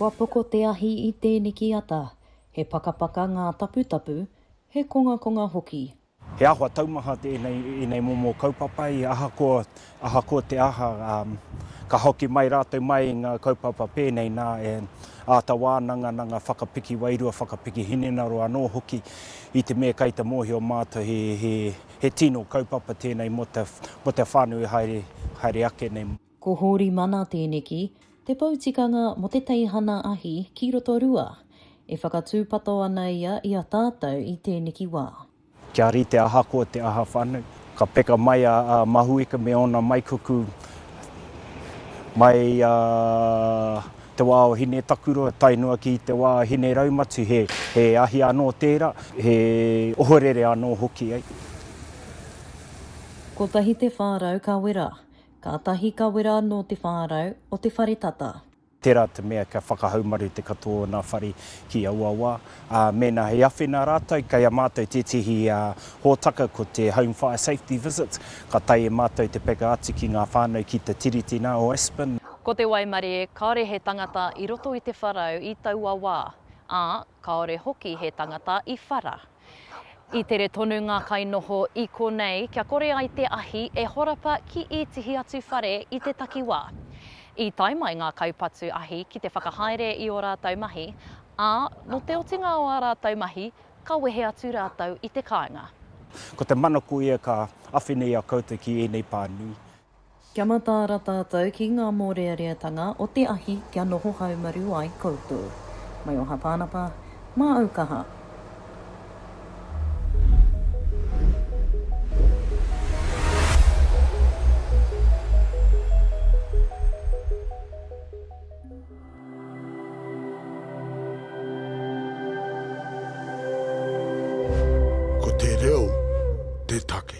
Kua poko te ahi i tēneki ata, he pakapaka ngā taputapu, he kongakonga hoki. He āhua taumaha tēnei i ēnei momo kaupapa i ahakoa Ahakoa te aha, ka hoki mai rātou mai i ngā kaupapa pēnei nā e āta wānanga nā ngā whakapiki wairua, whakapiki hinengaro anō hoki i te mea kei te mōhio mātou he tino kaupapa tēnei mō te whānau i haere ake nei. Ko Hōri Mana tēneki, te pou tikanga mō te teihana ahi ki Rotorua. E whakatūpato ana ia i a tātou i tēneki wā. Kia rite ahakoa te aha whānau. Ka peka mai a Mahuika me ōna maikuku mai i te wā o Hinetakurua tae noa ki te wā a Hineraumati, he ahi anō tērā, he ohorere anō hoki. Kotahi te whārau ka wera. Kātahi ka wera anō te whārau o te whare tata. Tērā te mea kia whakahaumaru te katoa o nā whare ki aua wā, ā, mēnā he awhina rātou, kei a mātou tētehi hōtaka ko te Home Fire Safety Visits, ka tae e mātou te peka atu ki ngā whānau ki te Tiriti nā, o Aspen. Ko te waimarie kāore he tangata i roto i te wharau i taua wā, ā, kāore hoki he tangata i whara. I tere tonu ngā kainoho i konei kia kore ai te ahi e horapa ki ētehi atu whare i te takiwā. I tae mai ngā kaupatu ahi ki te whakahaere i ō rātou mahi, ā, nō te otinga o ā rātou mahi, ka wehe atu rātou i te kāinga. Ko te mana koia ka awhina i a koutou ki ēnei pānui. Kia mataara tātou ki ngā mōreareatanga o te ahi kia noho haumaru ai koutou. Mai o Hapānapa, mā au kaha. Ko te reo te take.